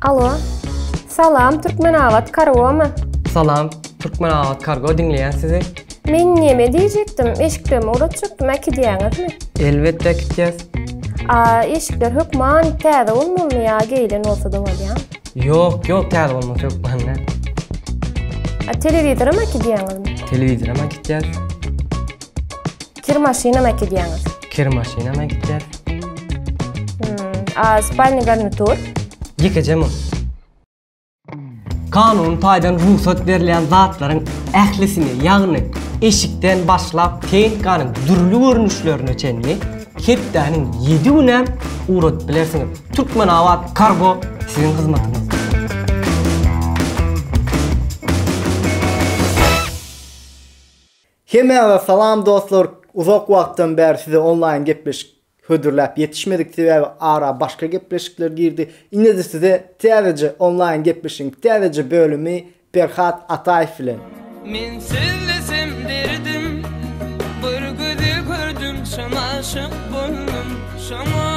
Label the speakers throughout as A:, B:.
A: Alo. Salam, Türkmenabat kargomy? Salam, Türkmenabat kargo diňleýän sizi. Men näme diýjekdim, eşiklerimi ugratjakdym, äkidýäňizmi? Elbetde äkitýäs. A, eşikler hökman täze bolmalymy ýa geýlen bolsa-da bolýar? Ýok, ýok, täze bolmasy hökman däl. A, telewizoram äkidýäňizmi? Telewizoram äkitýäs. Kir maşyna mı gidýäňiz? Kir maşyna mı gidýäs? Hmm, a spalny garnitur? Ýekeje mı? Kanun taýdan rugsat berlen zatlaryň ählisini, ýagny eşikden başlap tehnikanyň dürli görnüşlerine çenli hepdäniň 7 günem ugradyp bilersiňiz. Türkmenabat Kargo siziň hyzmatyňyzda. Hemmäňize salam dostlar uzak wagtdan bäri size onlaýyn gepleşik hödürläp ýetişmedik sebäbi ara başga gepleşikler girdi indede size täzeje onlaýyn gepleşigiň täzeje bölümi Perhat Ataýew bilen. Men sözlesem derdim bir gözi gördüm şam aşyk boldum şoňa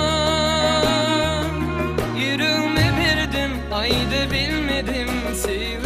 A: ýüregmi berdim aýda bilmedim söýgim.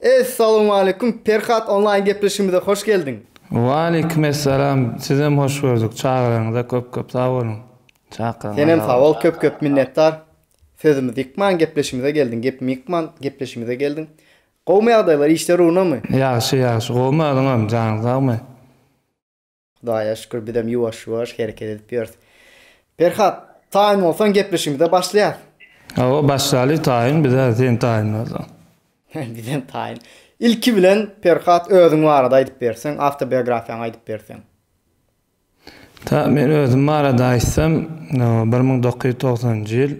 A: Essalawmaleýkum Perhat onlaýn gepleşigimize hoş geldiň. Waleýkim essalam sizem hoş gördük çagyraňyza köp köp sag boluň çakyryň Senem sag bol köp köp minnetdar sözümizi ýykman gepleşigimize geldiň gepimi ýykman gepleşigimize geldiň Gowmy ýagdaýlar işler ugrunamy? Ýagşy ýagşy gowmy özüňem janyň sagmy. Hudaýa şükür bizem ýuwaş ýuwaş hereket edip ýörüs. Perhat taýyn bolsaň gepleşigimize başlaýas. Hawa başlaly taýyn bizä sen taýyn bolsaň. Bizem taýyn. Ilki bilen Perhat özüň barada aýdyp berseň awtobiografiýaňy aýdyp berseň. Ta men özüm barada aýtsam bir müň dokuz ýüz togsanynjy ýyl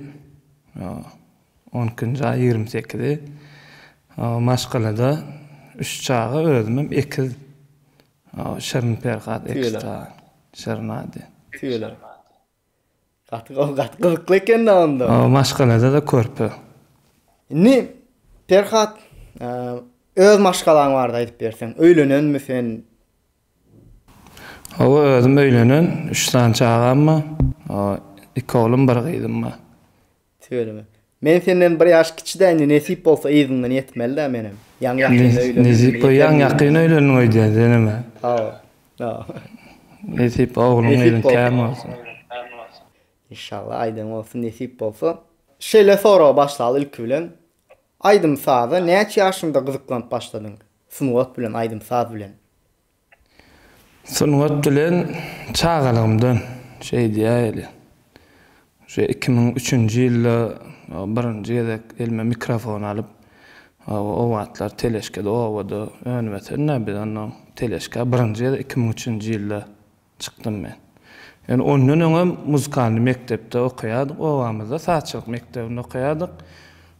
A: on ikinji aý ýigrimi sekizi maşgalada üç çaga özümem ekiz Şirin Perhat ekstra şirnady. Tüýeler. Gaty gowy gaty gyzykly ekenda onda. Maşgalada-da körpe. Indi Perhat öz maşgalaň barada aýdyp berseň. Öýlenenmi sen? Hawa özüm öýlenen üç sany çagam bar. Iki oglum bir gyzym bar. Tüweleme. Men senden bir ýaş kiçidä indi nesip bolsa yzyňdan ýetmelidä menem. Ýaňy ýakynda öýlendim indi Nesip ýeterin ýaňy ýakyn yzyňdan. öýlendiň öýdýän senemä. Hawa. Hawa. Nesip ogluň Nesip gyzyň bolsa. kän bolsun. Inşallah aýdan bolsun nesip bolsa. Şeýle soraga başlaly ilki bilen. Aýdym saza näçe ýaşyňda gyzyklanyp başladyň? Sungat bilen aýdym saz bilen. Sungat bilen çagalygymdan şeýdýäýeli. Şu iki müň üçünji ýylda birinji gezek elime mikrofon alyp, o wagtlar teleşkede obada önümetenä biz onda teleşka birinji gezek iki müň üçünji ýylda çykdym men. Ýöne ondan öňem muzykalny mekdepde okaýardyk, obamyzda sazçylyk mekdebinde okaýardyk.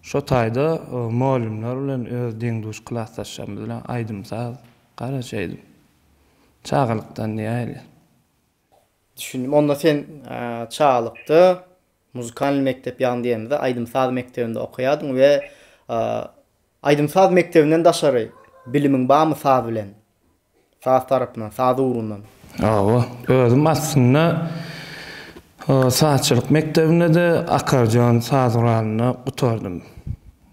A: Şo taýda molymlar bilen öz deň-duş klasdaşlarymyz bilen aýdym-saz Garaja edip. Çagalykdan diýäýeli. Düşündim. Onda sen çagalykda muzykalnyý mekdep ýagny diýemizde aýdym-saz mekdebinde okaýardyň we aýdym-saz mekdebinden daşary bilimiň barmy saz bilen? Saz tarapyndan, saz ugrundan? Hawa. Özüm aslynda sazçylyk mekdebinde-de, akardeon saz guralynda gutardym.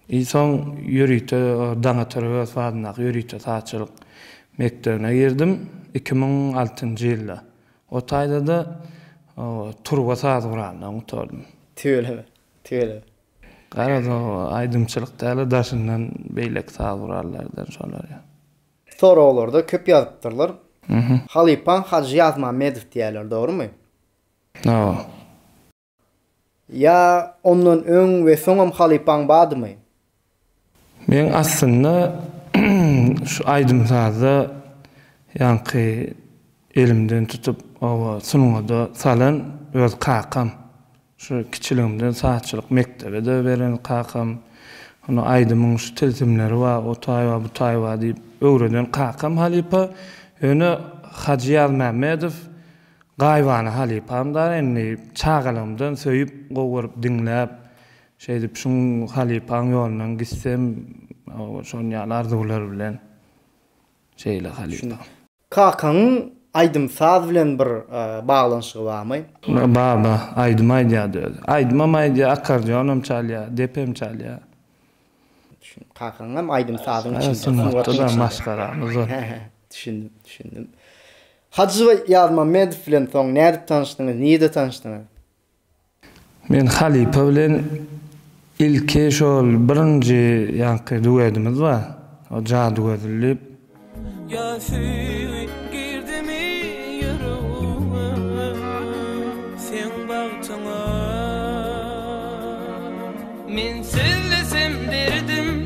A: Soň ýörite Daňatyrygy sazyndaky ýörite sazçylyk mekdebine girdim, iki müň altynjy ýylda. O taýda-da turba saz guralyna gutardym. Tüweleme, tüweleme. Garaz, o aýdymçylyk däl-de, daşyndan beýleki saz gurallardan şolar. Soraglarda köp ýazypdyrlar. Halypaň Hajy Ýazmammedow diýýärler, dogrumy? Hawa. Ýa ondan öň we soňam halypaň bardymy? Men aslynda şu aýdym-sazda ýaňky elimden tutup oba sungada salan öz kakam. Şu kiçiligimden sazçylyk mekdebi-de beren kakam. Ony aýdymyň şu tilsimleri bar, o taýba, bu taýba diýip öwreden kakam halypa. Ýöne Hajy Ýazmämmedow Gaýybana halypam-da indi çagalygymdan söýüp, gowy görüp diňläp, şeýdip şuň halypaň ýolundan gitsem, şon ýaly arzuwlar bilen şeýle halypa. Kakaňyň aýdym-saz bilen bir baglanyşygy barmy? Bar-da, aýdym aýdýardy özi. Aýdymam aýdýar, akkordeonam çalýar, depem çalýar. Düşündim. Kakaň hem aýdym-sazyň içinde, sungatda maşgalamyz bar. Düşündim, düşündim. Hajy Ýazmammedow bilen soň nädip tanyşdyňyz, nirde tanyşdyňyz? Men halypa bilen ilki şol birinji ýaňky duedimiz bar, o Jadygözül diýip. Ýa söýgi girdimi ýüregime seň bagtyňa. Men sözlesem derdim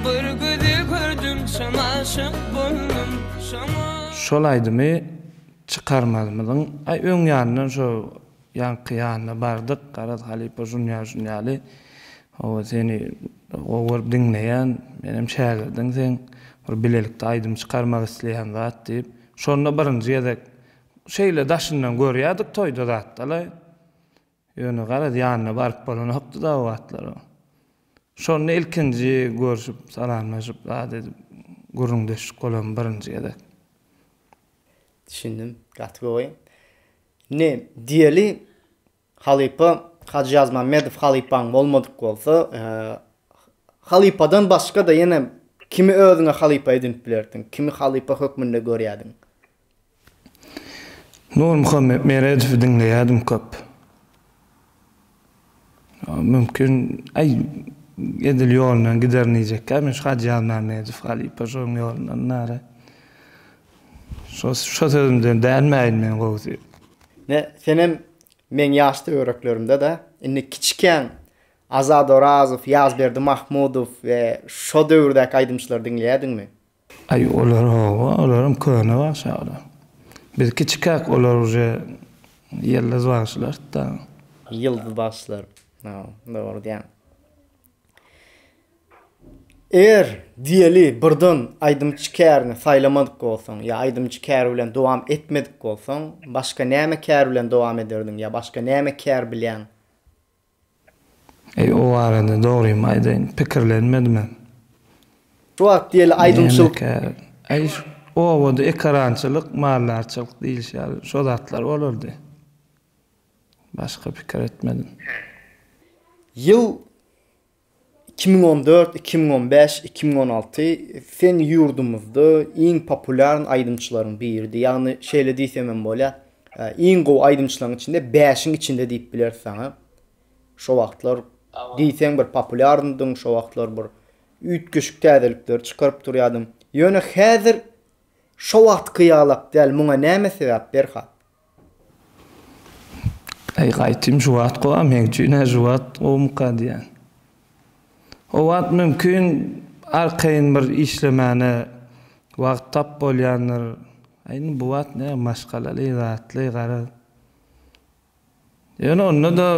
A: Bir gözi gördüm çyn aşyk boldum şoňa. Şol aýdymy çykarmalymyzyň aý öň ýanyndan şo ýaňky ýanyna bardyk garaz halypa şunýaly şunýaly howa seni gowy görüp diňleýän menem şägirdiň seň bir bilelikde aýdym çykarmak isleýän zat diýip şonda birinji gezek şeýle daşyndan görýädik toýda zatdalaý Ýöne garaz ýanyna baryp bolanokdy da o wagtlar. Şonda ilkinji görşüp, salamlaşyp, zat edip, gürrüňdeşlik bolan birinji gezek. Düşündim. Gaty gowy. Indi diýeli halypa Hajy Ýazmämmedow halypaň bolmadyk bolsa, halypadan başga-da ýene kimi özüňe halypa edinip bilerdiň? Kimi halypa hökmünde görýärdiň? Nurmuhammet Meredowy diňleýärdim köp. Mümkin, aý, edil ýolundan giderin diýjekkä, men şu Hajy Ýazmämmedow halypa şoň ýolundan nara. Şo şo sözümden dänmäýin men gowusy. Ne, senem meň ýaş töwereklerimde-dä, indi kiçikäň Azat Orazow, Ýazberdi Mahmudow we şo döwürdäki aýdymçylary diňleýärdiňmi? Aý olar hawa olaram köne bagşa olar. Biz kiçikäk olar uje ýyldyz bagşylardy da. Ýyldyz bagşylar hawa dogry diýýäň. Eger diýeli birden aýdymçy kärini saýlamadyk bolsaň ýa aýdymçy kär bilen dowam etmedik bolsaň başga näme kär bilen dowam ederdiň ýa başga näme kär bilýäň? Eý o barada dogrymy aýdaýyn pikirlenmedimem. Şu wagt diýeli aýdymçylyk. Nämekä eý şu obada ekarançylyk maldarçylyk diýilişýär şo zatlar bolardy. Başga pikir etmedim. Ýyl iki müň on dört, iki müň on bäş, iki müň on alty sen ýurdumyzda iň populýarn aýdymçylaryň biridi. Ýagny şeýle diýsem hem bolýar. Iň gowy aýdymçylaryň içinde bäşiň içinde diýip bileris saňa. Şo wagtlar diýseň bir populýarndyň, şo wagtlar bir üýtgeşik täzelikleri çykaryp durýardyň. Ýöne häzir şo wagtky ýalak däl. Muňa näme sebäp Berhat? Äý, gaýtym, şu wagt gowy, a meň üçin-ä şu wagt gowumyka diýýän. O wagt, mümkin, arkaýyn bir işlemäne wagt tap bolýandyr. A indi bu wagt näme maşgalaly, zatly, garaz. Ýöne onda-da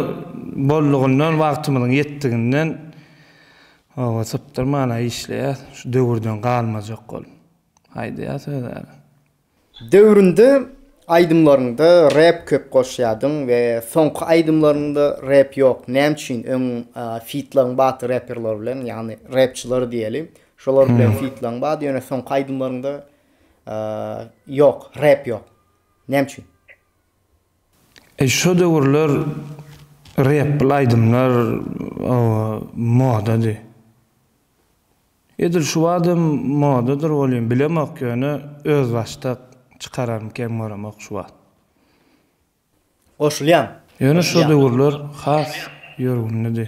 A: boldugyndan, wagtymyzyň ýetdiginden oba sypdyrman-a işleýäs, şu döwürden galmajak bolup. Aýdýas özara. Döwründe aýdymlaryňda rep köp goşýadyň we soňky aýdymlaryňda rep ýok näme üçin öň fitlaryň bady reperler bilen ýagny repçiler diýeli şolar bilen fitlaň bady ýöne soňky aýdymlaryňda ýok rep ýok näme üçin. E şo döwürler repl aýdymlar o modady. Edil şu badam modadyr welin bilemok ýöne özbaşdak çykararyn kem göremok şu wagt. Goşulýan. Ýöne şo döwürler has ýörgünlidi.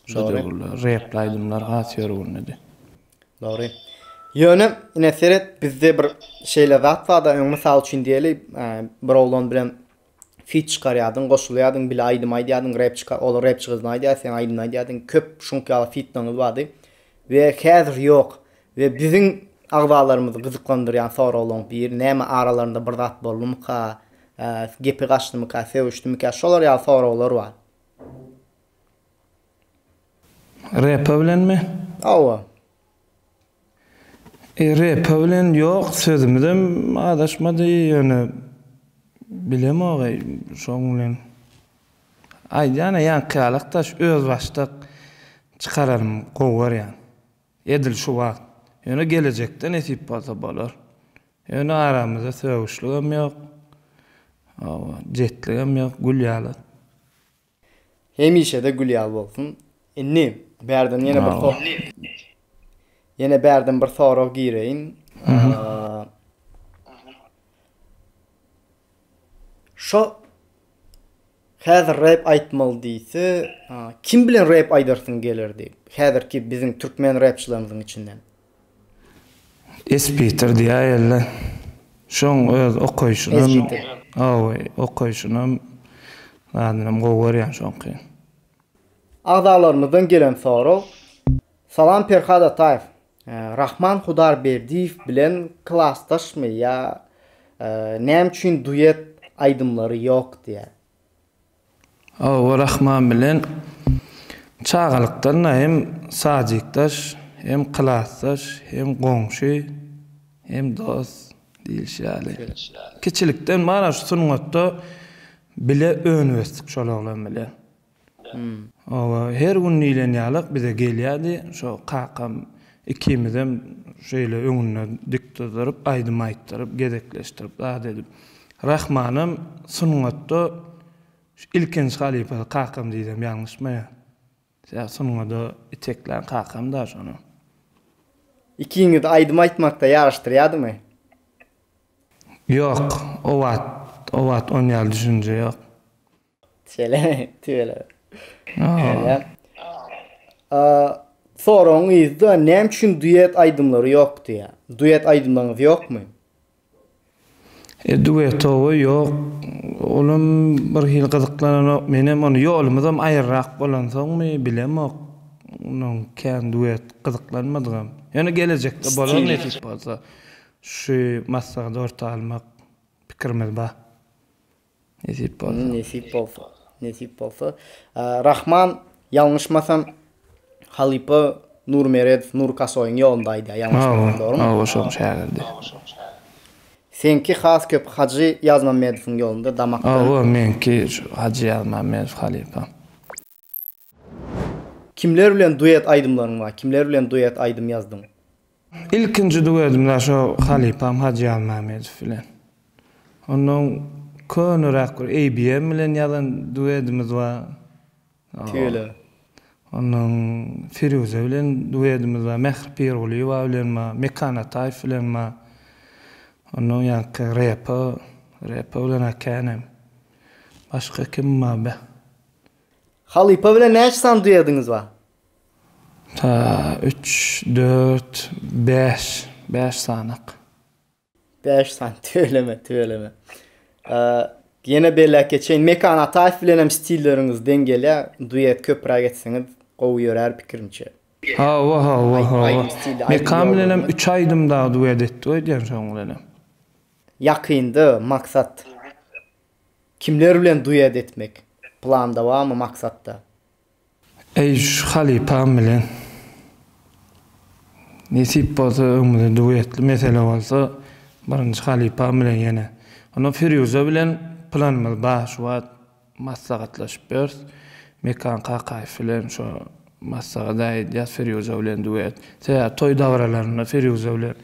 A: Şo döwürler repli aýdymlar has ýörgünlidi. Dogry. Ýöne ine seret bizde bir şeýle zat barda öň mysal üçin diýeli bir oglan bilen fit çykarýadyň goşulýadyň bile aýdym aýdýadyň rep çyka ol rep çykyzny aýdýa sen aýdym aýdýadyň köp şuňk ýaly fitlaňyz bardy we häzir ýok we biziň agzalarymyzy gyzyklandyrýan soraglaň biri näme aralarynda bir zat boldumyka gepi gaçdymyka sögüşdimikä şolar ýaly soraglar bar. Repa bilenmi? Hawa. RP bilen ýok sözümizem azaşmady ýöne bilemogaý şoň bilen aýdýana ýaňky ýalak daş özbaşdak çykaranym gowy görýän edil şu wagt ýöne gelejekde nesip bolsa bolar ýöne aramyzda sögüşligem ýok oba jetligem ýok gül ýaly. Hemişede gül ýaly bolsun. Indi bärden ýene bir sor. Ýene bärden bir sorag gireýin. Şo Häzir rap aýtmaly diýse, kim bilen rap aýdarsyň gelerdi? Häzirki biziň türkmen rapçylarymyzyň içinden. Espitir diýäýerler. Şoň öz okaýşynam, Espitir. hawa, okaýşynam, zadynam gowy görýän şoňky. Agzalarymyzdan gelen sorag. Salam Perhat Ataýew. Rahman Hudarberdiýew bilen klasdaşmy ýa näme üçin duet aýdymlary ýok diýýär. Awa Rahman bilen çagalykdan-da hem sajykdaş, hem klasdaş, hem goňşy, hem dost diýlişi ýaly. Kiçilikden bar-a şu sungatda bile önüp-ösdük şol oglan bilen. Oba, her gün diýlen ýaly-ak bize gelýärdi, şo kakam Ikimizem şeýle öňünde dik dyzdyryp, aýdym aýtdyryp, gezekleşdirip, zat edip. Rahmanam sungatda ilkinji halypasy kakam diýsem ýalňyşmaýan. Sag sungada iteklän kakam daş ony. Ikiňizi aýdym aýtmakda ýaryşdyrýadymy? Ýok, o wagt, o wagt onýaly düşünje ýok. Tüweleme, tüweleme. Aa. Aa, soragyň yzda näme üçin duet aýdymlary ýok diýä? Duet aýdymlaryňyz ýokmy? E, duetowy ýok. Olam bir hili gyzyklananok. Menem ony ýolumyzam aýryrak bolansoňmy, bilemok. Onuň kän duet gyzyklanmadygam. Ýöne gelejekde bolar nesip bolsa. Şu maslahat orta almak pikirimiz bar. Nesip bolsa. Nesip bolsa. Nesip bolsa. Rahman ýalňyşmasam halypa Nur Meredow Nur Kasoýyň ýolunda aýdýar ýalňyşmasam dogrymy? Awaşoň şägirdi. Seňki has köp Hajy Ýazmammedowyň ýolunda damakdan. Awa meňki şu Hajy Ýazmammedow halypam. Kimler bilen duet aýdymlaryň bar? Kimler bilen duet aýdym ýazdyň? Ilkinji duetim da şo halypam Hajy Almammedow bilen. Ondan köneräk bir ABM bilen ýazan duedimiz bar. Tüýele. Ondan Firuze bilen duedimiz bar. Mähri Pirgulyýewa bilen bar. Mekan Ataýew bilen bar. Ondan ýaňky repo, repo bilen-a känem. Başga kim bar be? Halypa bilen näçe sany duýediňiz bar? Ta, üç, dört, bäş, bäş sanak. Bäş sany, tüweleme, tüweleme. Ýene belläp geçeýin, Mekan Ataýew bilenem stilleriňiz deň gelýär, duet köpräk etseňiz gowy ýörär pikirimçe. Hawa, hawa, hawa. Mekan bilenem üç aýdym dagy duet etdik öýdýän şoň bilenem. Ýakynda, maksat? Kimler bilen duet etmek planda barmy maksatda. Eýýş halypam bilen. Nesip bolsa öňümizde duetli mesele bolsa birinji halypam bilen ýene. Onda Firýuza bilen planymyz bar şu wagt maslahatlaşyp ýörüs. Mekan Kakaýew bilen şo Maslahat aýdýas Firýuza bilen duet. Sebäbi toý dabaralarynda Firýuza bilen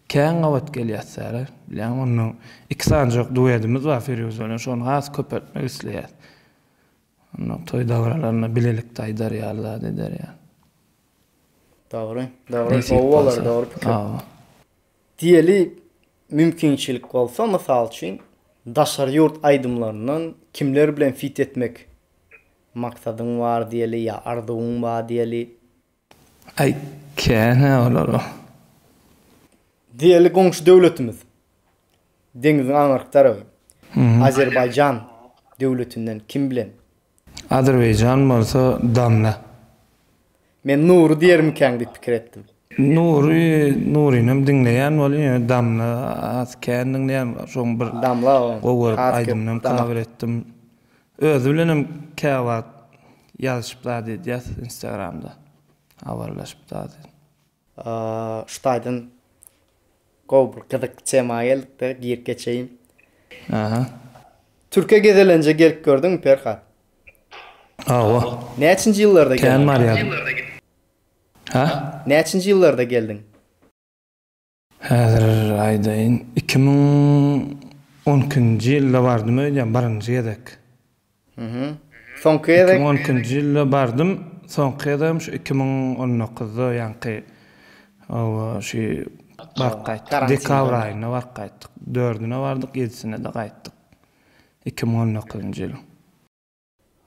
A: kän gabat gelýäsdäre. Bilýäňmi, onda iki sanjak duedimiz bar Firýuza bilen, şony has köpeltmek isleýäs. Onda toý dabaralarynda bilelikde aýdar ýaly zat eder ýaly. Dogry, dogry, gowy bolar, dogry pikir. Diýeli mümkinçilik bolsa, mysal üçin, daşary ýurt aýdymlaryndan kimler bilen fit etmek Maksadyň bar diýeli ýa arzuwyň ba diýeli. Aý känä olara. Diýeli goňşy döwletimiz. Deňiziň aňyrky tarapy. Azerbaýjan döwletinden kim bilen. Azerbaýjan bolsa damla. Men Nury diýermikäň diýip pikir etdim. Nury, Nurynyam diňleýän bolýan, ýöne Damla az kän diňleýän, şoň bir Damla gowy aýdymynam kawer etdim. Özi bilenem käwagt ýazyşyp zat edýäs instagramda, habarlaşyp zat edip. Şu taýdan gowy bir gyzykly tema geldik-de, girip geçeýin. Aha. Türkiýe gezelenje gelip gördüňmi Perhat? Hawa. Näçinji ýyllarda geldiň? Kän barýaryn. Hä? Näçinji ýyllarda geldiň? Häzir aýdaýyn, iki müň on ikinji ýylda bardym öýdýän, birinji gezek. Hä-hä. Soňky gezek? Iki müň on ikinji ýylda bardym, soňky gezegem şu iki müň on dokuzda ýaňky hawa şu baryp gaýtdyk. Dekabr aýynda baryp gaýtdyk. Dördüne bardyk, ýedisine-de gaýtdyk. iki müň on dokuzynjy ýyl.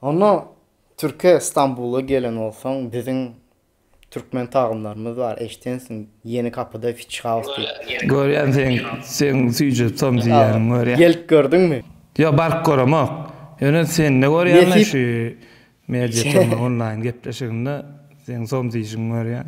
A: Onda Türkiýe Stambula gelen bolsaň biziň Türkmen tagynlarymyz bar eşdensiň Ýeni kapyda Fitch House diýip. Görýän seň seň süýji tom diýýäniň görýän. Gelip gördüňmi? Ýok baryp göremok. Ýöne sende görýän da şu Media Tom onlaýyn gepleşiginde seň tom diýşiňi görýän.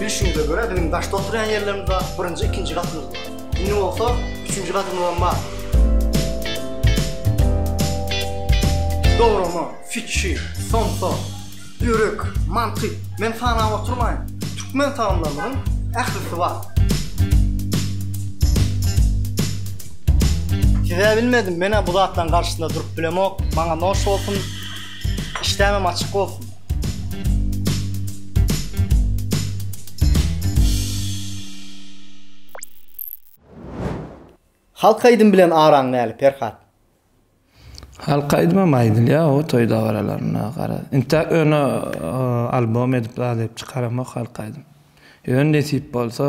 A: Bilşimize görä biziň daşda oturýan ýerlerimiz bar, birinji, ikinji gatymyz bar. Indi bolsa üçünji gatymyzam bar. Dograma, fitçi, somsa, börek, manty, men sanap oturmaýyn. Türkmen tagamlarynyň ählisi bar. Size bilmedim menä bu zatlaryň garşysynda durup bilemok maňa noş bolsun işdämem açyk bolsun. Halk aýdym bilen araň näli Perhat. Halk aýdymam aýdylýa o toý dabaralarynda gara. Intäk ýöne albom edip zat edip çykaramok halk aýdym. Ýöne nesip bolsa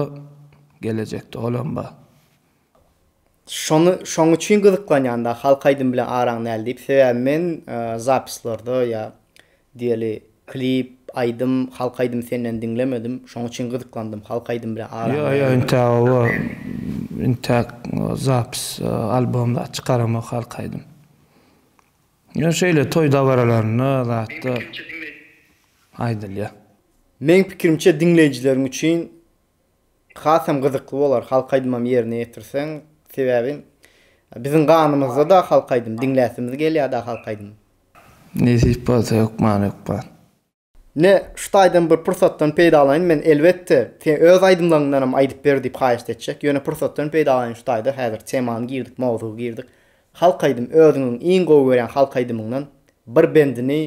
A: gelejekde olam bar. Şony şoň üçin gyzyklanýan da halk aýdym bilen araň näl diýip sebäbi men zapislerde ýa diýeli klip aýdym halk aýdym senden diňlemedim şoň üçin gyzyklandym halk aýdym bilen araň näl diýip. Ýo ýo intä oba intäk zapis albom zat çykaramok halk aýdym ýöne şeýle toý dabaralarynda zatda aýdylýa. Meň pikirimçe diňleýjileriň üçin Hasam gyzykly bolar halk aýdymam ýerine ýetirseň sebäbi biziň ganymyzda da halk aýdym diňläsimiz gelýä da halk aýdym. Nesip bolsa hökman hökman. Ine şu taýdan bir pursatdan peýdalanyň men elbetde seň öz aýdymlaryňdanam aýdyp ber diýip haýyşt etjek ýöne pursatdan peýdalanyň şu taýda häzir temany girdik mowzugy girdik halk aýdym özüňiň iň gowy görýän halk aýdymyňdan bir bendini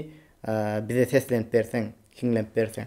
A: bize seslenip berseň hiňlenip berseň.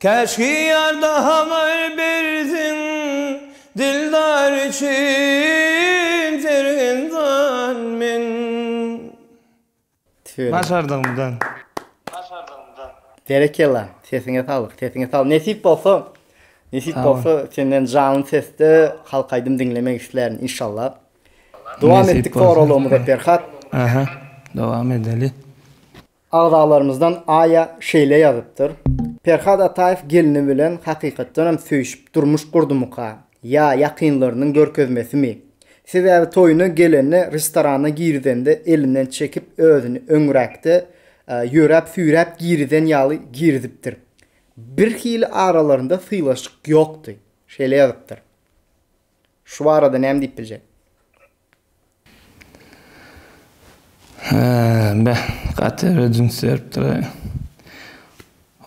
A: Käşgi ýar da habar bersin, Dildar üçin sergen jan men. Tüweleme. Başardygymdan. Başardygymdan. Berekella, sesiňe saglyk, sesiňe saglyk. Nesip bolsa, nesip Sag bol. bolsa senden janly sesde halk aýdym diňlemek islärin inşallah. Dowam Nesip etdik bolsa. soraglarymyza Perhat. Aha, dowam edeli. Agzalarymyzdan Aýa şeýle ýazypdyr, Perhat Ataýew gelni bilen hakykatdanam söýşüp durmuş gurdumyka, ýa ýakynlarynyň görkezmesimi? Sebäbi toýuna gelende restorana girizende elinden çekip özüni öňräkde ýöräp süýräp girizen ýaly girizipdir. Birhili aralarynda sylaşyk ýokdy. Şeýle ýazypdyr. Şu barada näme diýip biljek? Beh, gaty rejimiz beripdir-aý.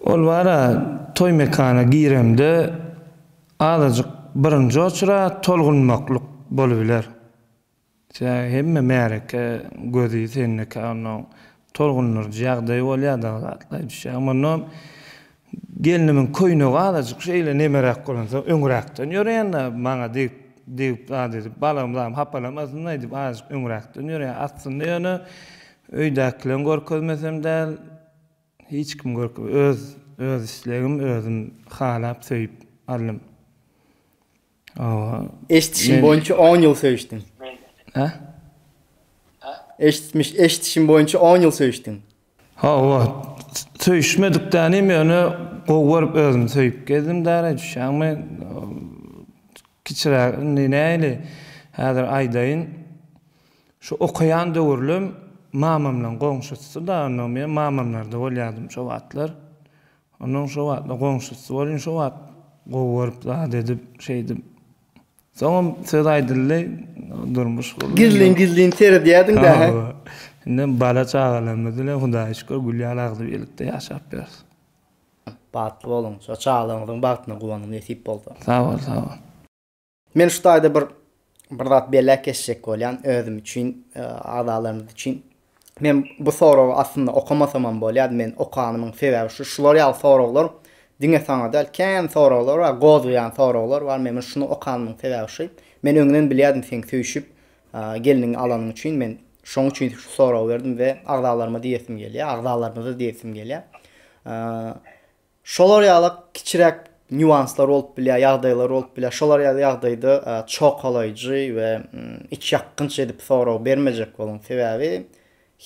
A: Ol bar-a, toý mekana giremde azajyk birinji oçura tolgunmaklyk bolubiler. Tä hemme märeke gözi sendekä onnoň tolgundyryjy ýagdaýy bolýa dagy zatlaýy düşýä. Mundan gelnimiň köýnegi azajyk şeýle nemeräk bolansoň öňräkden ýöreýänä maňa degip degip zat edip balam zam hapalamasynlaý diýip azajyk öňräkden ýöreýä. Aslynda ýöne öýdäkileň görkezmesem däl hiç kim görke öz öz islegim özüm halap söýüp aldym. Eşitişim boýunça 10 ýyl söýüşdiň. Hä? Eşitmiş, eşitişim boýunça 10 ýyl söýüşdiň. Hawa, söýüşmedik dälim, ýöne gowy görüp özüm söýüp gezdim däli, düşýäňmi? Kiçiräk, indi nähili, häzir aýdaýyn. Şu okaýan döwürlim mamamlaň goňşusy-da, onnoň men mamamlarda bolýardym şo wagtlar. Onuň şo wagtlar goňşusy welin şo wagt gowy görüp zat edip şeýdip. Soňam söz aýdyldy durmuş gurlundy. Gizlin gizlin seredýädiňdä hä? Hawa. Indem bala çagalarymyz bilen Hudaýa şükür gül ýaly agzybirlikde ýaşap ýörüs. Bagtly boluň. Şo çagalaryňyzyň bagtyna guwanyň nesip bolsa. Sag bol sag bol. Men şu taýda bir bir zat belläp geçjek bolýan özüm üçin, agzalarymyz üçin. Men bu soragy aslynda okamasamam bolýardy. Men okanymyň sebäbi şu, şular ýaly soraglar diňe saňa däl, kän soraglar bar, gozgaýan soraglar bar. Men muny şuny okanymyň sebäbi şu, men öňden bilýärdim seň söýşüp, gelniňi alanyň üçin men şoň üçin şu soragy berdim we agzalaryma diýesim gelýär, agzalarymyza diýesim gelýär. Şolar ýalak kiçiräk nýuanslar bolup bilýär, ýagdaýlar bolup bilýär. Şolar ýaly ýagdaýda çokalaýjy we iç ýakgynç edip sorag bermejek boluň. Sebäbi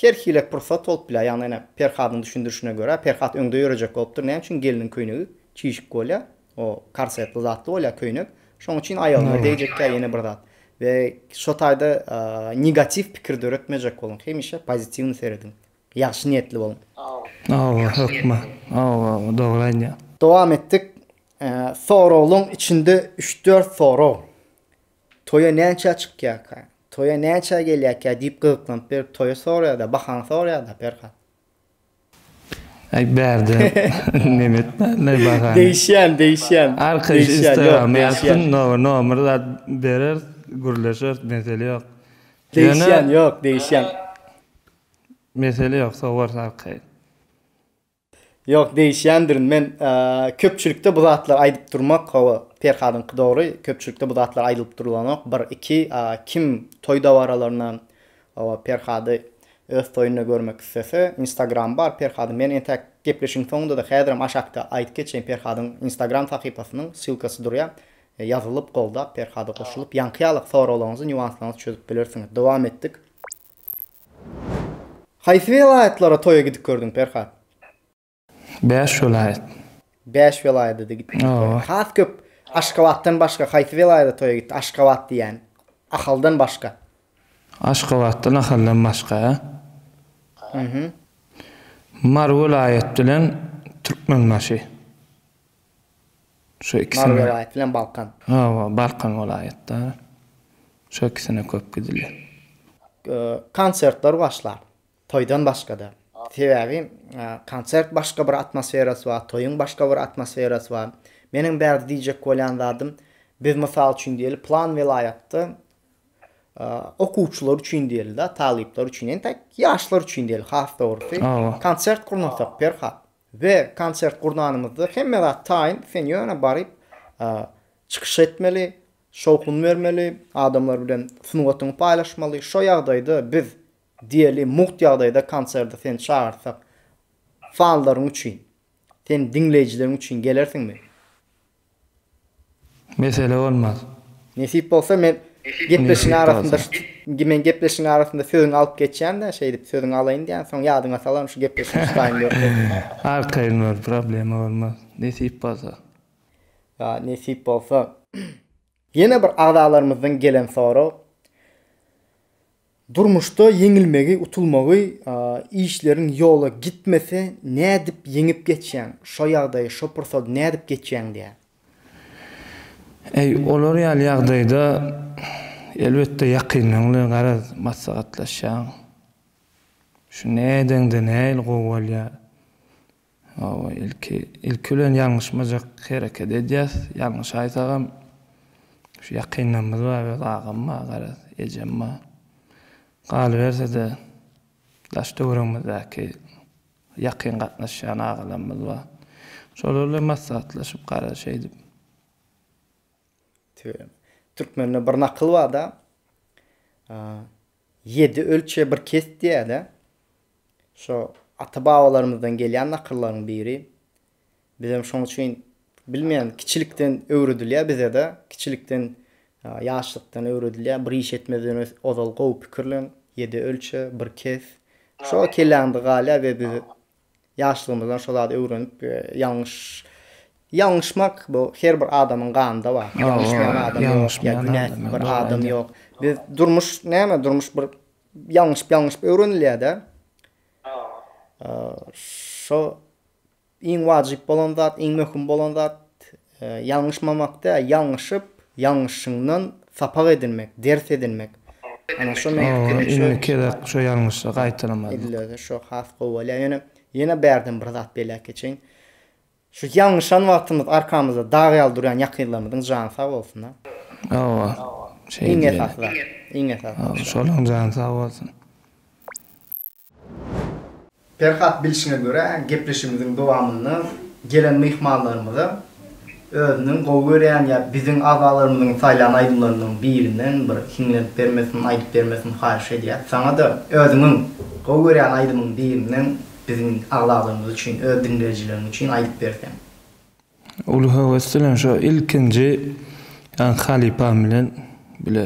A: her hili pursat bolup bilýär. Ýagny ene Perhadyň düşündirişine görä, Perhat öňde ýörejek bolupdyr. Näme üçin gelniň köýnegi çişik bolýar? O korsetli zatly bolýar köýnek. Şonuň üçin aýagyňa degjekkä ýene bir zat. We şo taýda negatiw pikir döretmejek boluň. Hemişe pozitiwny serediň. Ýagşy niýetli boluň. Hawa hökman. Hawa hawa dogry aýdýaň. Dowam etdik. Soraglaň içinde üç dört sorag. Toýa näçä çykýarka? Toýa näçä gelýärkä diýip gyzyklanyp berip toýy soraýada bahaňy soraýada Perhat. Aý bärde neme etmänler bahany. Degişýän degişýän. Arkaýyş instagram ýazsyn nomer zat bereris gürleşeris mesele ýok. Degişýän ýok degişýän. Mesele ýok sowarys arkaýyn. Ýok degişýändirin men köpçülikde bu zatlary aýdyp durmak hawa Perhadyňky dogry köpçülikde bu zatlar aýdylyp durulanok bir iki kim toý dabaralarynda hawa Perhady öz toýunda görmek islese instagramy bar Perhadyň men entäk gepleşigiň soňundada häzirem aşakda aýdyp geçeýin Perhadyň instagram sahypasynyň ssylkasy durýa ýazylyp goldap Perhada goşulyp ýaňky ýalyk soraglaryňyzy nýuanslaryňyzy çözüp bilersiňiz dowam etdik. Haýsy welaýatlara toýa gidip gördüň Perhat? Bäş welaýat. Bäş welaýada-da gitdiň. Hawa. Has köp Aşgabatdan başga haýsy welaýada toýa gitdi? Aşgabat diýýän. Ahaldan başga. Aşgabatdan, Ahaldan başga. Mary welaýat bilen Türkmenbaşy. Şu ikisine. Mary welaýaty bilen Balkan. Hawa, Balkan welaýatda. Şu ikisine köp gidilýär. Konsertler başlar. Toýdan başga-da. Sebäbi konsert başga bir atmosferasy bar, toýuň başga bir atmosferasy bar. Meniň bärde diýjek bolýan zadym, biz mysal üçin diýeli plan welaýatda okuwçylar üçin diýeli-de, talyplar üçin, entäk ýaşlar üçin diýeli has dogrusy, konsert gurnasak Perhat, We konsert gurnanymyzda hemme zat taýyn sen ýöne baryp çykyş etmeli, şowhun bermeli, adamlar bilen sungatyňy paýlaşmaly, şo ýagdaýda biz diýeli mugt ýagdaýda konserde seni çagyrsak fanlaryň üçin, seni diňleýjileriň üçin gelersiňmi? Mesele bolmaz. Nesip bolsa men gepleşigiň arasynda men gepleşigiň arasynda sözüňi alyp geçýän-de şeýdip sözüňi alaýyn diýýän soň ýadyňa salaryn şu gepleşigi tutaýyn ýok diýip. Arkaýyn bol problema bolmaz nesip bolsa. Ýa nesip bolsa. Ýene bir agzalarymyzdan gelen sorag, Durmuşda ýeňilmegi, utulmagy, işleriň ýola gitmese nädip ýeňip geçýäň? Şo ýagdaýy, şo pursady nädip geçýäň diýýär. Eý, olar ýaly ýagdaýda elbetde ýakynlaň bilen garaz maslahatlaşýaň. Şu nädeňde nähili gowy bolýar? Hawa, ilki, ilki bilen ýalňyşmajak hereket edýäs. Ýalňyş aýsagam, şu ýakynlarymyz bar, öz agam bar, garaz, ejem bar. Galyberse-de, daş-töweregimizdäki ýakyn gatnaşýan agalarymyz bar. Şolar bilen maslahatlaşyp, garaz, şeýdip. Tüweleme. Türkmende bir nakyl bar-da, Ýedi ölçe bir kes diýýärdi. Şo ata-babalarymyzdan gelýän nakyllaryn biri. Bizem şoň üçin bilmeýän kiçilikden öwredilýär bizede. Kiçilikden ýaşlykdan öwredilýär. Bir iş etmezden ozal gowy pikirlen, ýedi ölçe, bir kes. Şo kelläňde galýar we biz Ýaşlygymyzdan şo zady öwrenip ýalňyş ýalňyşmak bu her bir adamyň ganynda bar. Ýalňyşmaýan adam ýok, ýa günäsiz bir adam ýok. Biz durmuş näme durmuş bir ýalňyşyp ýalňyşyp öwrenilýär-de. Şo iň wajyp bolan zat, iň möhüm bolan zat Ýalňyşmamak däl, ýalňyşyp, ýalňyşyňdan sapak edinmek, ders edinmek. Ana şo meň pikirimçe. Oňa indiki gezek şo ýalňyşy gaýtalamazlyk. Edilýärse şo has gowy bolýar. Ýöne ýene bärden bir zat belläp geçeýin. Şu ýalňyşan wagtymyz arkamyzda dag ýaly durýan ýakynlarymyzyň jany sag bolsun-a. Hawa. Şeýdibem. Iň esasy zat. Iň esasy zat. Şolaň jany sag bolsun. Perhat bilşine görä, gepleşigimiziň dowamynda gelen myhmanlarymyza özüniň gowy görýän ýa biziň agzalarymyzyň saýlan aýdymlaryndan birinden bir hiňlenip bermesini, aýdyp bermesini haýyş edýäs. Saňa-da özüňiň gowy görýän aýdymyň birinden biziň agzalarymyz üçin, öz diňleýjileriň üçin aýdyp berseň. Uly höwes bilen şo ilkinji halypam bilen bile.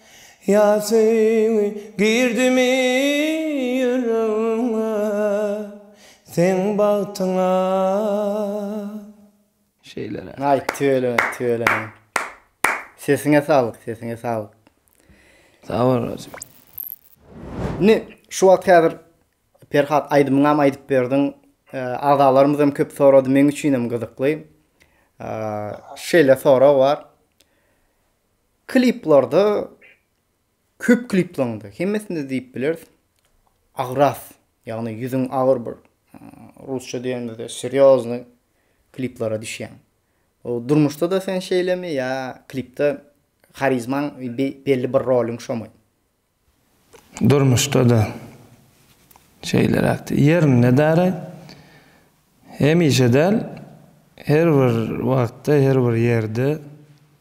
A: Ýasyň girdimi ýüregiňe seň bagtyňa. Şeýle. Aý tüweleme tüweleme. Sesiňe saglyk sesiňe saglyk. Sag bol Rozik. Indi şu wagt häzir Perhat aýdymyňam aýdyp berdiň. Agzalarymyzam köp sorady meň üçinem gyzykly. Şeýle sorag bar. Kliplarda köp kliplaryňda, hemmesinde diýip bileris, agras, ýagny ýüzüň agyr bir, rusça diýenimizde serýoznyý kliplara düşýäň. Durmuşda-da sen şeýlemi ýa klipde harizmaň, belli bir roluň şomy? Durmuşda-da şeýleräkdi. Ýerinde däraý. Hemişe däl, her bir wagtda, her bir ýerde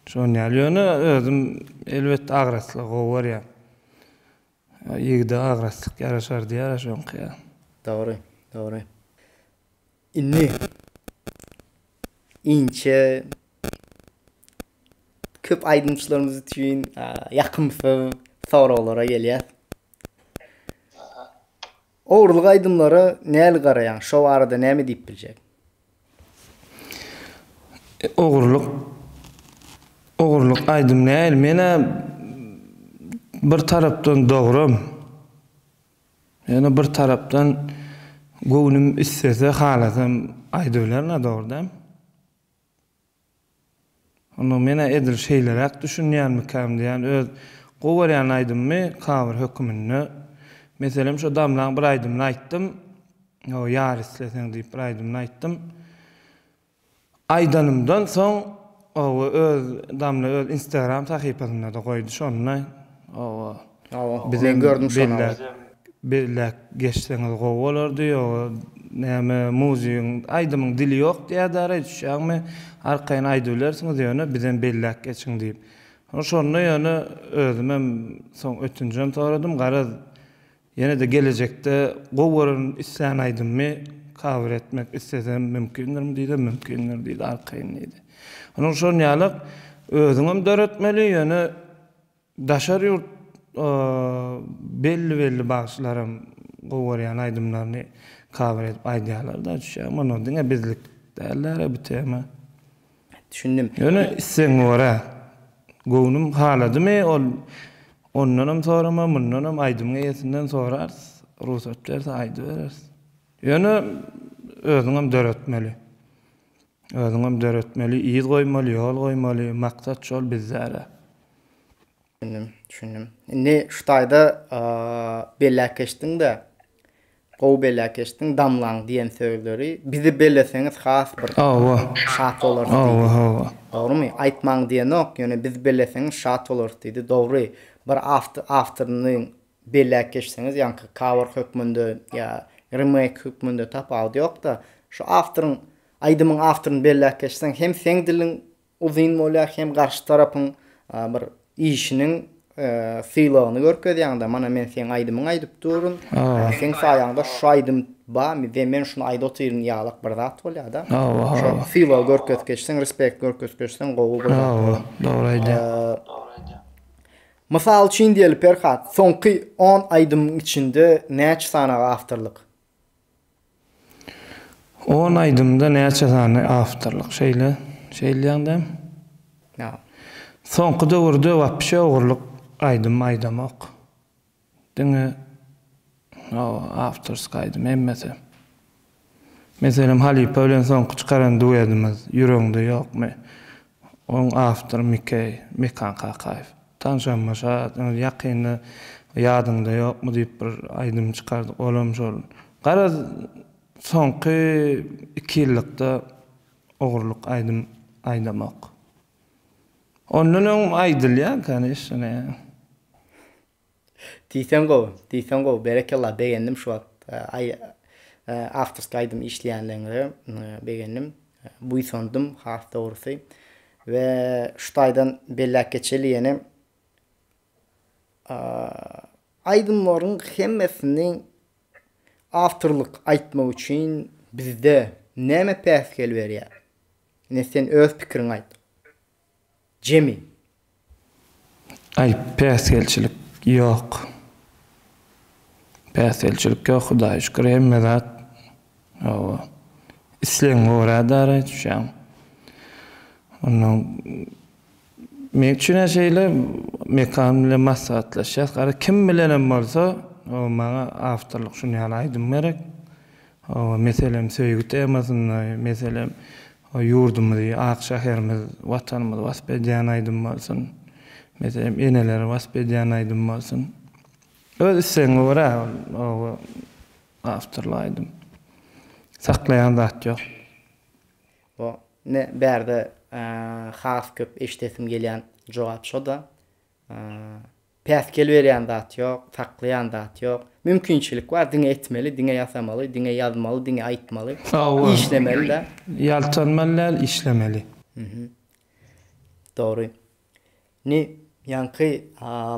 A: şon ýaly. Ýöne özüm elbetde agraslygy gowy görýän. Ýigide agraslyk ýaraşar diýýärä şoňky ýa. Dogry, dogry. Indi inçe köp aýdymçylarymyz üçin ýakymsyz soraglara gelýär. Ogurlyk aýdymlara näli garaýaň? Şo barada näme diýip biljek? Ogurlyk Ogurlyk aýdym näl? Men-ä bir tarapdan dogrum. Ýöne bir tarapdan göwnüm istese halasam aýdybilerina dogrydan. Onda menä edil şeýleräk düşünýänmikäm diýýän öz gowerýän aýdymymy cover höküminde meselem şo Damlaň bir aýdymyny aýtdym. Ýar isleseň diýip bir aýdymyny aýtdym. Aýdanymdan soň oba öz damla öz instagram sahypasynda-da goýdy şonda oba bizem belläp belläp geçseňiz gowy bolardy ýoga näme muzygyň aýdymyň dili ýok diýädä araý düşýäňmi arkaýyn aýdybilersiňiz ýöne bizem belläp geçiň diýip şonda ýöne özümem soň ötünjem soradym garaz Ýene-de gelejekde gowy gören islän aýdymymy kawer etmek islesem mümkindirmi diýsem mümkindir diýdi arkaýyn diýdi. Onuň şon ýaly özüňem döretmeli ýöne daşary ýurt belli belli bagşylaram gowy görýän aýdymlaryny kawer edip aýdýarlar-da düşýäňmi onda diňe bizlik däldi-ä bu tema. Düşündim. Ýöne islegiňe görä. Göwnüm haladymy ol ondanam sorama, mundanam aýdymyň eýesinden sorarys. Rugsat berse aýdybereris. Ýöne özüňem döretmeli. Özüňem döretmeli, yz goýmaly, ýol goýmaly, maksat şol bizde-de. Düşündim, düşündim. Indi şu taýda belläp geçdiň-de, Gowy bela keşdiň damlaň diýen sözleri bizi beleseňiz has bir Hawa. Şat bolarys diýdi. Hawa hawa. Dogrymy? Aýtmaň diýenok, ýöne bizi beleseňiz şat bolarys diýdi. Dogry. Bir awtoryny bela keşseňiz ýaňky cover hökmünde ýa remake hökmünde tapawudy ýokda, şu awtoryň aýdymyň awtoryny bela keşseň hem seň diliň Uzyn bolýar hem garşy tarapyň bir işiniň sylagyny görkezýäňdä mana men seň aýdymyň aýdyp durun seň saýaňda şu aýdym bamy we men şuny aýda otyryn ýalak bir zat bolýada şo sylag görkezip geçseň respekt görkezip geçseň gowy bir zat bolar dogry aýdýaň mysal üçin diýeli perhat soňky on aýdymyň içinde näçe sanaga awtorlyk On aýdymda näçe sany awtorlyk şeýle şeýleýäňdäm? Ýa. Soňky döwürde wapşe ogurlyk aýdym aýdamok. Diňe hawa awtorsk aýdym hemmesi. Meselem halypa bilen soňky çykaran duedimiz ýüregiňde ýokmy? Onuň awtory Mikeý, Mekan Kakaýew. Tanşanma şa, ýöne ýakynda Ýadyňda ýokmy diýip bir aýdym çykardyk, olam şol. Garaz, soňky iki ýyllykda ogurlyk aýdym aýdamok. Ondan öň aýdylýarka, neşşe näme. Diýseň gowy, diýseň gowy, berekella, begendim şu wagt aý awtorskiý aýdym işleýänligiňize begendim, buýsandym has dogrusy we şu taýdan belläp geçeli ýene aýdymlaryň hemmesini awtorlyk aýtmak üçin bizde näme päsgel berýär? Ine sen öz pikiriňi aýt. Jemi. Aý päsgelçilik ýok. Päsgelçilik ýok Hudaýa şükür hemme zat hawa islegiňe görä dara düşýäň. Ondan meň üçinem şeýle Mekan bilen maslahatlaşýas gara kim bilenem bolsa hawa maňa awtorlyk şuny ýaly aýdym gerek. Hawa meselem söýgi temasynda meselem O ýurdumyzy, ak şäherimiz, Watanymyzy wasp edýän aýdym bolsun. Meselem, eneleri wasp edýän aýdym bolsun. Öz islegiňe görä oba awtorly aýdym. Saklaýan zat ýok. Bu indi bärde has köp eşidesim gelýän jogap şo-da. Päsgel berýän zat ýok, saklaýan zat ýok. Mümkinçilik bar, diňe etmeli, diňe ýasamaly, diňe ýazmaly, diňe aýtmaly, işlemeli-dä. Ýaltanmaly däl, işlemeli. Dogry. Indi ýaňky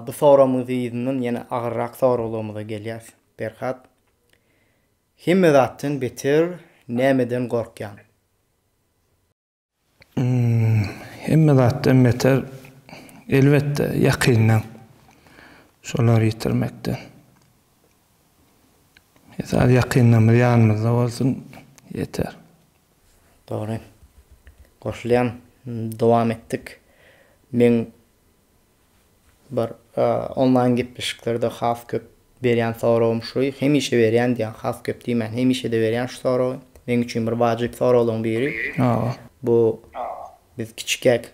A: bu soramyň yzyndan ýene agyrrak soraglarymyza gelýäs, Perhat. Hemme zatdan beter nämeden gorkýaň? Hemme zatdan beter, elbetde, ýakyndan şolary ýitirmekden. Esasy ýakynlarymyz ýanymyzda bolsun, ýeter. Dogry. Goşulýan. Dowam etdik. Meň Bir onlaýn gepleşiklerde has köp berýän soragym şu, hemişe berýän diýýän, has köp diýmän, hemişe-de berýän şu soragy. Meň üçin bir wajyp soraglaryň biri. Bu biz kiçikäk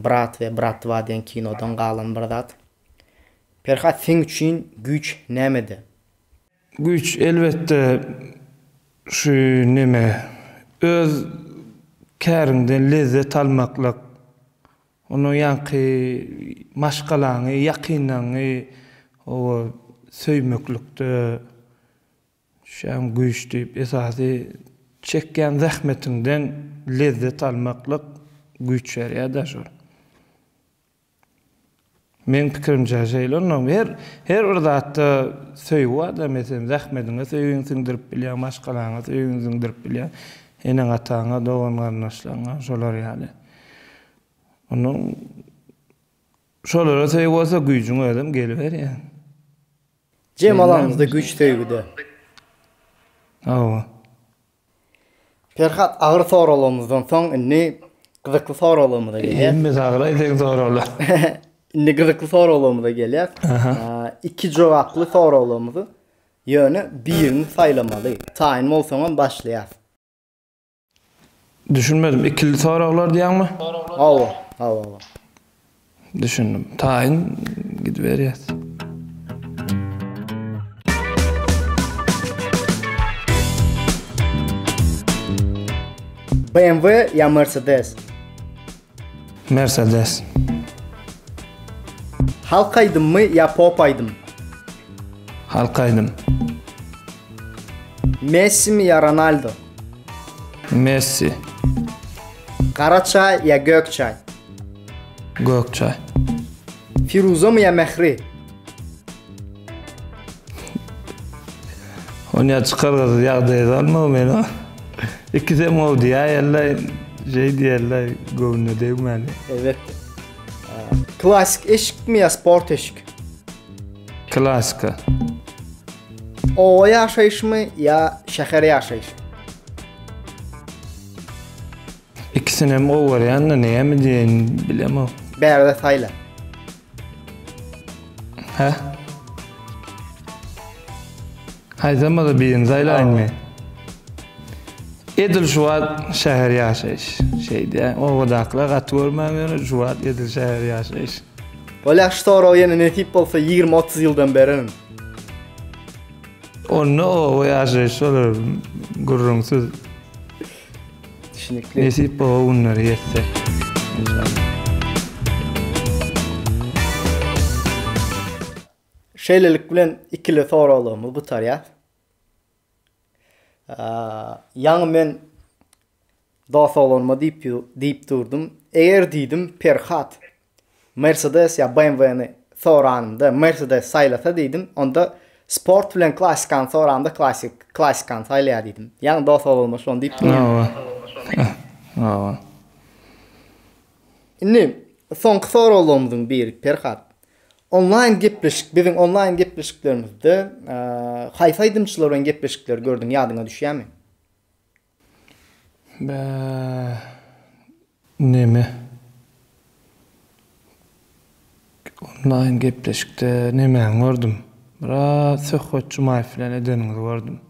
A: Brat we Brat Dva diýen kinodan galan bir zat. Perhat seň üçin güýç nämede? Güýç elbetde şu neme, öz käriňden lezzet almaklyk. Onuň ýaňky maşgalaňy, ýakynlaňňy oba söýmeklikde düşýäň güýç diýip, esasy çekýän zähmetiňden lezzet almaklyk güýç berýär-dä şol. Meň pikirimçe şeýle onda her her bir zatda söýgi barda meselem zähmediňe söýgiňi siňdirip bilýäň maşgalaňa söýgiňi siňdirip bilýäň eneň ataňa dogan garyndaşlaryňa şolar ýaly onuň şolara söýgi bolsa güýjüň özem geliberýär. Jemal aňyzda güýç söýgide. Hawa. Perhat agyr soraglarymyzdan soň indi gyzykly soraglarymyza gelýäs. Hemme saglaý deň soraglar. Indi gyzykly soraglarymyza gelýäs. Iki jogaply soraglarymyzy ýöne birini saýlamaly. Taýyn bolsaňam başlaýas. Düşünmedim ikili soraglar diýýäňmi? Hawa, hawa. Düşündim. Taýyn gidiberýäs. BMW ya Mercedes? Mercedes. Halk aýdym mı ya pop aýdym? Halk aýdym. Messi mi ya Ronaldo? Messi. Gara çaý ýa gök çaý? Gök çaý. Firuzamy ýa Mähri? Ony ýa çykargasyz ýagdaýa salmagy men o. İkisi hem gowy diýäýerler, şey diýerler, göwnüne degmäli. Elbetde. Klasik eşikmi ýa sport eşik? Klasika. Oba ýaşaýyşmy ýa şäher ýaşaýyşmy? Ikisinem gowy görýän-de, näme diýeýin bilemok. Bärde saýla. Hä? Aýdamada birini saýlaýyn men. Edil şu wagt şäher ýaşaýyş. Şeýdýän, obadakylar gaty görmän ýöne şu wagt edil şäher ýaşaýyş. Bolýa şu sorag ýene nesip bolsa ýigrimi otuz ýyldan bererin. Onda oba ýaşaýyş bolar gürrüňsiz. Düşnükli. Nesip boba günleri ýetse. Enşallah. Şeýlelik bilen ikili soraglarymyz gutarýar. Ýaňy men dost oglanyma diýip diýip durdum. Eger diýdim, Perhat Mercedes ýa BMW-ni soranymda Mercedes saýlasa diýdim, onda sport bilen klassikany soranymda klassik klassikany saýlaýar diýdim. Ýaňy dost oglanyma şony diýip durdum. Hawa. Indi soňky soraglarymyzyň biri Perhat. Onlaýn gepleşik, biziň onlaýn gepleşiklerimizde haýsy aýdymçylar bilen gepleşikleri gördüň ýadyňa düşýämi? Bä neme onlaýn gepleşikde nemäni gördüm? Biraz Söhbet Jumaýew bilen edeniňizi gördüm.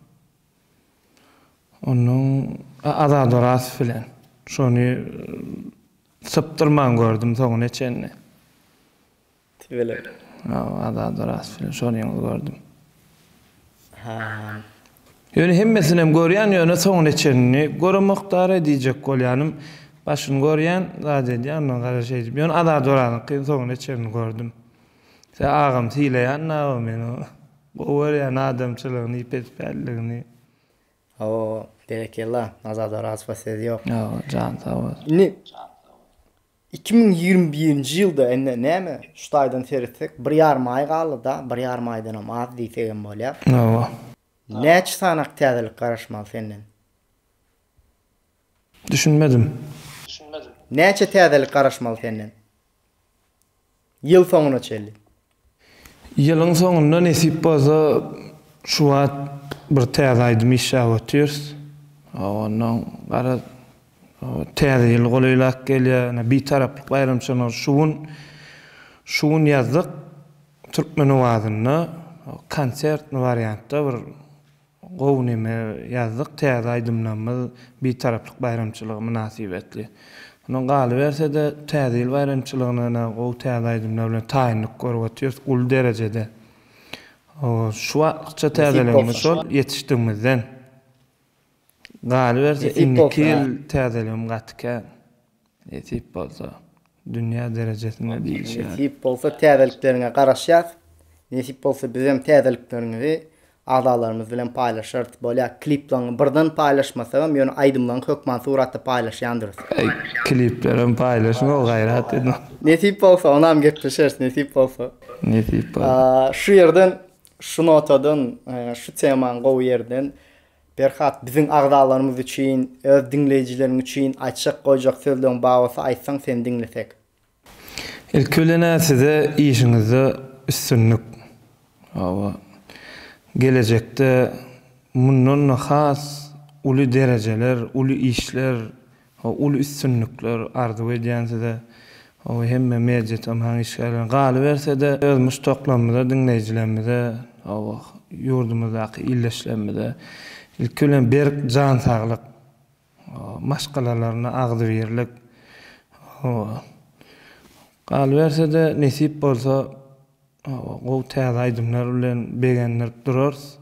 A: Onuň Azat Orazow bilen şony sypdyrman gördüm soňuna çenli. Tüweleme. Ýok, Azada rast film. Şony ýalňyz gördüm. Hä. Ýöne hemmesinem görýän ýöne soňuna çenini göremokdary diýjek bolýanym başyny görýän zat edýän ondan gara şeýdip ýöne Azat Orazyňkyny soňuna çenini gördüm se agam sylaýan nawa men o gowy görýän adamçylygyny ýpetpälligini. Hawa berekella Azat Orazowa söz ýok. Ýok jan sag bolsun. Indi Iki müň ýigrimi birinji ýylda indi näme şu taýdan seretsek bir ýarym aý galdy da bir ýarym aýdanam az diýsegem bolýar. Hawa. Näçe sanak täzelik garaşmaly senden? Düşünmedim. Näçe täzelik garaşmaly senden? Ýyl soňuna çenli. Ýylyň soňunda nesip bolsa şu wagt bir täze aýdym işläp otyrs. Ondan gara täze ýyl golaýlap gelýär. Ine Bitaraplyk baýramçylygyny şu gün şu gün ýazdyk. Türkmenowazynda konsertni wariantda bir Gowy neme ýazdyk täze aýdymlamyz Bitaraplyk baýramçylygy mynasybetli. Mundan galyberse-de täze ýyl baýramçylygyna-da gowy täze aýdymlar bilen taýynlyk görüp otyrys uly derejede. Şu watlykça täzeligimiz şol ýetişdigimizden. Galyberse indiki ýyl täzeligim gaty kän. Nesip bolsa, dünýä derejesinde diýilýär. Nesip bolsa täzelikleriňe garaşýas. Nesip bolsa bizem täzelikleriňizi agzalarymyz bilen paýlaşarys. Bolýa kliplaňňy birden paýlaşmasagam ýöne aýdymlaň hökman suratda paýlaşýandyrys. Eý kliplerem paýlaşma gaýrat edin. Nesip bolsa onam gepleşeris nesip bolsa. Nesip bolsa. Şu ýerden şu notadan şu temaň gowy ýerden Perhat biziň agzalarymyz üçin öz diňleýjileriň üçin aýtjak goýjak sözleň bar bolsa aýtsaň seni diňlesek. Ilki bilenä size işiňizde üstünlik. Hawa. Gelejekde mundan-da has uly derejeler, uly işler Uly üstünlikler arzuw edýän size we hemme media tomaryň işgärlerine. Galyberse-de, öz muşdaklarymyza, diňleýjilerimize, ýurdumyzdaky ildeşlerimize ilki bilen berk jan saglyk, maşgalalaryna agzybirlik, galyberse-de, nesip bolsa, gowy täze aýdymlar bilen begendirip durarys.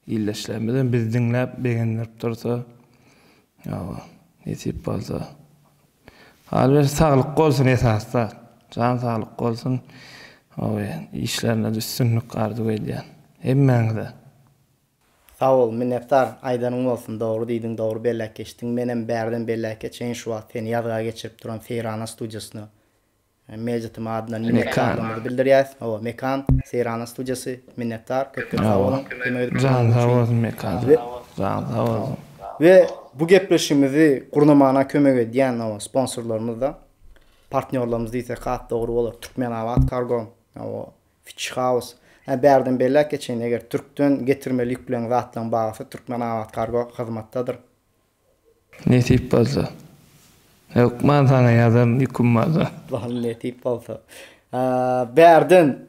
A: Ildeşlerimizem bizi diňläp begendirip dursa ýa-da nesip bolsa. Galyberse saglyk bolsun esasda. Jan saglyk bolsun. Oý, işlerinizde üstünlik arzuw edýän. Hemmäňize. Sag bol, minnetdar. Aýdanyň bolsun, dogry diýdiň, dogry belläp geçdiň. Menem bärden belläke çenşuwagt seni ýazga geçirip duran Seýrana studiýasyna Mejlisiň adyndan minnetdarlygymyzy bildirýäs. Hawa, Mekan, Seýranyň studiýasy, minnetdar, köp-köp sag boluň, kömek edip duranyň üçin. Janyň sag bolsun Mekan, janyň sag bolsun. We bu gepleşigimizi gurnamana kömek edýän, hawa, sponsorlarymyz-da, partnýorlarymyz diýsek has dogry bolar, Türkmenabatkargo, hawa, Fitchhaus. Hä, bärden belläp geçeýin, eger Türkden getirmeli ýükleň, zatlaň bahasy Türkmenabatkargo hyzmatdadyr. Nesip bolsa. Hökman saňa ýazaryn ýüküm bolsa. Bal nesip bolsa. Bärden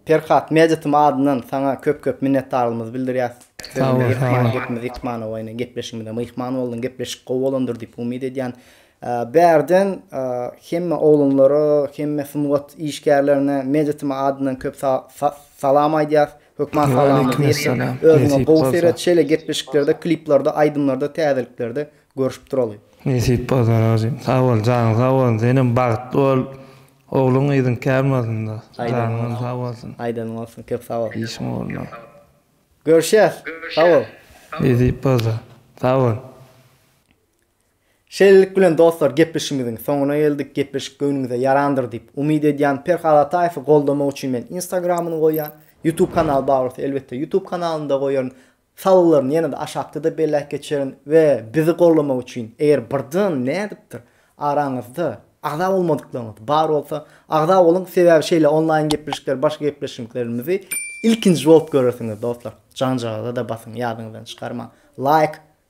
A: Perhat Meditm adyndan saňa köp köp minnetdarlygymyzy bildirýäs. Sag bol. Gepimiz ýitmana oýna gepleşigimize myhman boldyň. Gepleşik gowy bolandyr diýip umyt edýän. Bärden hemme oglanlara, hemme sungat işgärlerine Meditm adyndan köp salam aýdýas. Hökman salamyňyzy ýetirin. Özüňe gowy seret şeýle gepleşiklerde, kliplarda, aýdymlarda, täzeliklerde görüşip duraly. Nesip bolsa rozym. Sag bol janyň sag bolsun senem bagtly bol ogluň gyzyň kän bolsunda janyňam sag bolsun. Aýdanyň bolsun köp sag bol. Işiň ugruna. Görüşýäs. Sag bol. Nesip bolsa. Sag bol. Şeýlelik bilen dostlar gepleşigimiziň soňuna geldik, gepleşik göwnüňize ýarandyr diýip umyt edýän, Perhat Ataýewi goldamak üçin men instagramyny goýýan, ýutub kanaly bar bolsa elbetde ýutub kanalyny-da goýaryn, salgylaryny ýene-de aşakda-da belläp geçerin we bizi goldamak üçin eger birden nädipdir araňyzda agza bolmadyklaryňyz bar bolsa agza boluň sebäbi şeýle onlaýn gepleşikleri başga gepleşiklerimizi ilkinji bolup görersiňiz dostlar janjagaza-da basyň ýadyňyzdan çykarmaň laýk